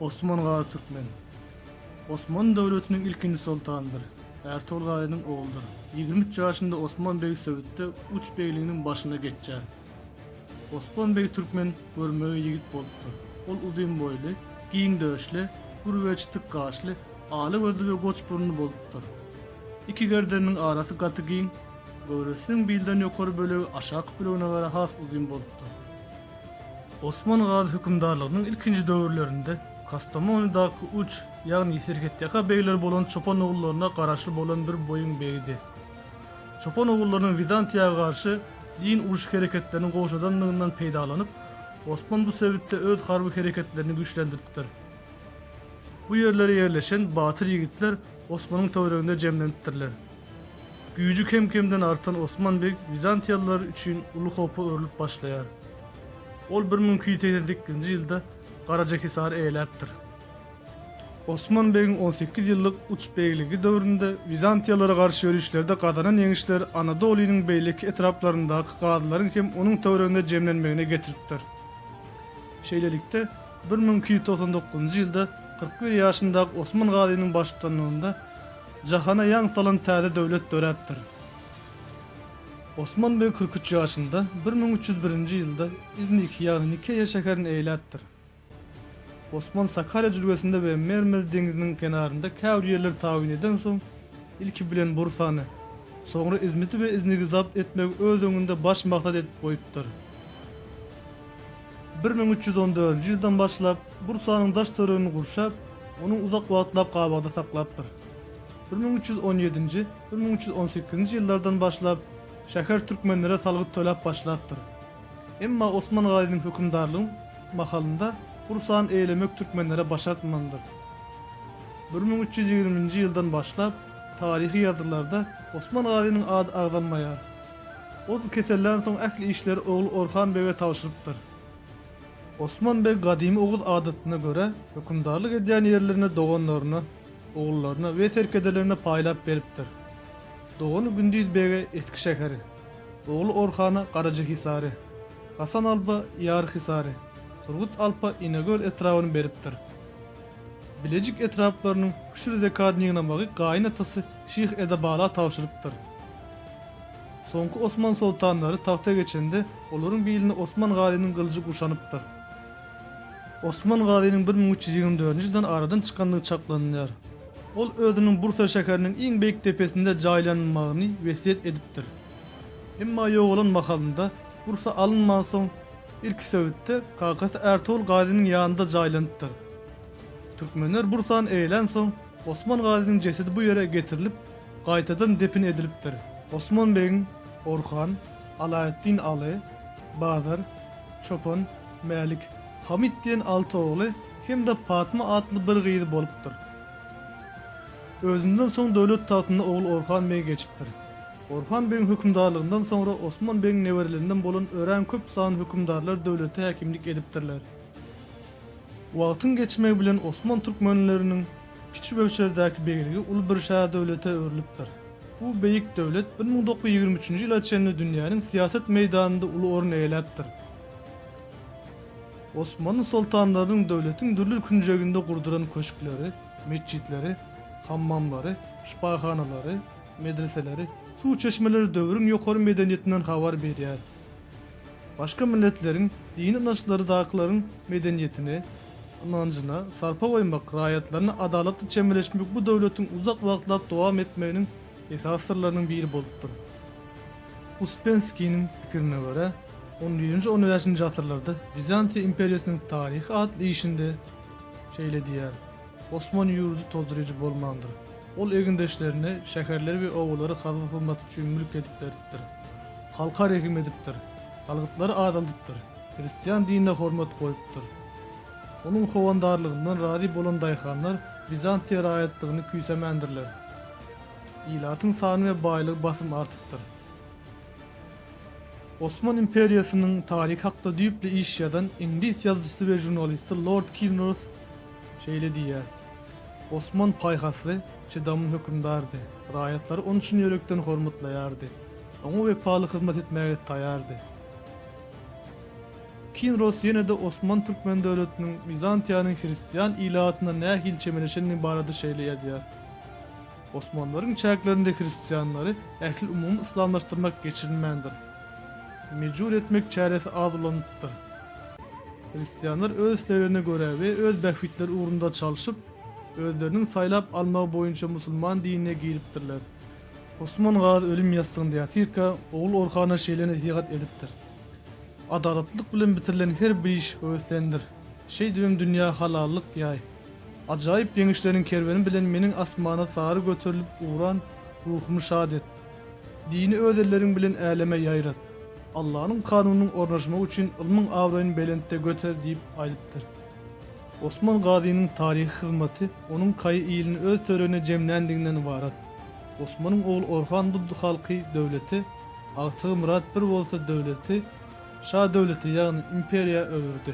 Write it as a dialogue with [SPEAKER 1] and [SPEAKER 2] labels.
[SPEAKER 1] Osman Gazy Türkmen. Osman döwletiniň ilkinji soltanydyr. Ärtogul Gazynyň ogludyr. Ýigrimi üç ýaşynda Osman beg Söwütde uç begliginiň başyna geçýär. Osman beg Türkmen görmegeý ýigit bolupdyr. Ol uzyn boýly, giň döşli, gür we çytyk gaşly, ala gözli we goç burunly bolupdyr. Iki gerdeniniň arasy gaty giň, göwresiniň bilden ýokary bölegi aşaky bölegine görä has uzyn bolupdyr. Osman Gazy hökümdarlygynyň ilkinji döwürlerinde Kastamonydaky uç, ýagny serhetýaka begler bolan çopan ogullaryna garaşly bolan bir boýuň begidi. Çopan ogullarynyň Wizantiýa garşy deýin uruş hereketlerini gowşadandygyndan peýdalanyp, Osman bu sebitde öz harby hereketlerini güýçlendiripdir. Bu ýerlere ýerleşen batyr ýigitler Osmanyň töwereginde jemlenipdirler. Güýji kem-kemden artan Osman beg wizantiýalylar üçin uly howpa öwrülip başlaýar. Ol bir müň iki ýüz segsen sekizinji ýylda Garajahisary eýeläpdir. Osman begiň on sekiz ýyllyk uç begligi döwründe wizantiýalara garşy ýörişlerde gazanan ýeňişler Anadolynyň beýleki etraplaryndaky gazylaryň hem onuň töwereginde jemlenmegine getiripdir. Şeýlelikde, Bir müň iki ýüz togsan dokuzynjy ýylda kyrk bir ýaşyndaky Osman Gazynyň baştutanlygynda jahana ýaň salan täze döwlet döräpdir. Osman beg kyrk üç ýaşynda, bir müň üç ýüz birinji ýylda Izniki ýagny Nikeýa şäherini eýläpdir. Osman Sakarýa jülgesinde we Mermez deňziniň kenarynda käbir ýerleri tabyn edensoň, ilki bilen Bursany, soňra Izmiti we Iznigi zabt etmegi öz öňünde baş maksat edip goýupdyr. Bir müň üç ýüz on dördünji ýyldan başlap, Bursanyň daş töregini gurşap, ony uzak wagtlap gabawda saklapdyr. Bir müň üç ýüz on ýedinji, bir müň üç ýüz on sekizinji ýyllardan başlap, şäher türkmenlere salgyt töläp başlapdyr. Emma Osman Gazynyň hökümdarlygy mahalynda Bursany eýlemek türkmenlere başartmandyr. Bir müň üç ýüz ýigriminji ýyldan başlap, taryhy ýazgylarda Osman Gazynyň ady agzalmaýar. Ol kesellän soň ähli işleri ogly Orhan bege tabşyrypdyr. Osman beg gadymy oguz adatyna görä hökümdarlyk edýän ýerlerini doganlaryna, ogullaryna we serkedelerine paýlap beripdir. Dogany Gündiz bege Eski şäheri, ogly Orhana Garajahisary, Hasan alpa Ýarhisary, Turgut alpa Inegöl etrabyny beripdir. Bilejik etraplarynyň Küşür Zekadnygnamagy gaýynatasy Şyh Edebala tabşyrypdyr. Soňky osman soltanlary tagta geçende, olaryň bilini Osman Gazynyň gylyjy guşanypdyr. Osman Gazynyň bir müň üç ýüz ýigrimi dördünji ýyldan aradan çykandygy çaklanylýar. Ol özüniň Bursa şäheriniň iň beýik depesinde jaýlanylmagyny wesýet edipdir. Emma ýogalan mahalynda, Bursa alynmansoň, ilki Söwütde, kakasy Ärtogul Gazynyň ýanynda jaýlanypdyr. Türkmenler Bursany eýelänsoň, Osman Gazynyň jesedi bu ýere getirilip, gaýtadan depin edilipdir. Osman begiň Orhan, Alaeddin Aly, Bazar, Çopan, Mälik, Hamyt diýen alty ogly hem-de Patma atly bir gyzy bolupdyr. Özünden soň döwlet tagtyna ogly Orhan beg geçipdir. Orhan begiň hökümdarlygyndan soňra Osman begiň neberelerinden bolan örän köp sanly hökümdarlar döwlete häkimlik edipdirler. Wagtyň geçmegi bilen osman türkmenleriniň kiçi möçberdäki begligi uly bir şähdöwlete öwrülipdir. Bu beýik döwlet bir müň dokuz ýüz ýigrimi üçünji ýyla çenli dünýäniň syýasat meýdanynda uly orun eýeläpdir. Osmanly soltanlarynyň döwletiň dürli künjeginde gurduran köşkleri, metjitleri, hammamlary, şypahanalary, medreseleri, suw çeşmeleri döwrüň ýokary medeniýetinden habar berýär. Başga milletleriň, dini ynançlarydakylaryň medeniýetine, ynanjyna sarpa goýmak, raýatlaryna adalatly çemeleşmek bu döwletiň uzak wagtlap dowam etmeginiň esasy syrlarynyň biri bolupdyr. Uspenskiniň pikirine görä, on birinji-on bäşinji asyrlarda Wizantiýa imperiýasynyň taryhy atly işinde şeýle diýýär, Osman ýurdy tozdyryjy bolmandyr. Ol egindeşlerine şäherleri we obalary hazyna salmak üçin mülk edip beripdir. Halka rehim edipdir. Salgytlary azaldypdyr. Hristian dinine hormat goýupdyr. Onuň howandarlygyndan razy bolan daýhanlar Wizantiýa raýatlygyny küýsämändirler. Ilatyň sany we baýlygy basym artypdyr. Osman imperiýasynyň taryhy hakda düýpli iş ýazan iňlis ýazyjysy we žurnalisti Lord Kilnroth, Şeýle diýýär, Osman paýhasly, çydamly hökümdardy. Raýatlary ony çyn ýürekden hormatlaýardy. Oňa wepaly hyzmat etmäge taýýardy. Kinros ýene-de Osman türkmen döwletiniň Wizantiýanyň hristian ilatyna nähili çemeleşendigi barada şeýle ýazýar, Osmanlaryň çäklerinde hristianlary ählumumy yslamlaşdyrmak geçirilmändir. Mejbur etmek çäresi az ulanypdyr. Hristianlar öz isleglerine görä we öz bähbitleri ugrunda çalşyp, özleriniň saýlap almagy boýunça musulman dinine giripdirler. Osman Gazy ölüm ýassygynda ýatyrka, ogly Orhana şeýle nesihat edipdir, Adalatlylyk bilen bitirilen her bir iş höweslendir. Şeýdibem dünýä halallyk ýaý. Ajaýyp ýeňişleriň kerweni bilen meniň asmana sary göterilip ugran ruhumy şat et. Dini öz elleriň bilen äleme ýaýrat. Allanyň kanunynyň ornaşmagy üçin ylmyň abraýyny belentde göter diýip aýdypdyr. Osman Gazynyň taryhy hyzmaty onuň kaýy ilini öz töregine jemländiginden ybarat. Osmanyň ogly Orhan bu halky döwlete, agtygy Myrat bir bolsa döwleti, Şa döwleti, ýagny imperiýa öwürdi.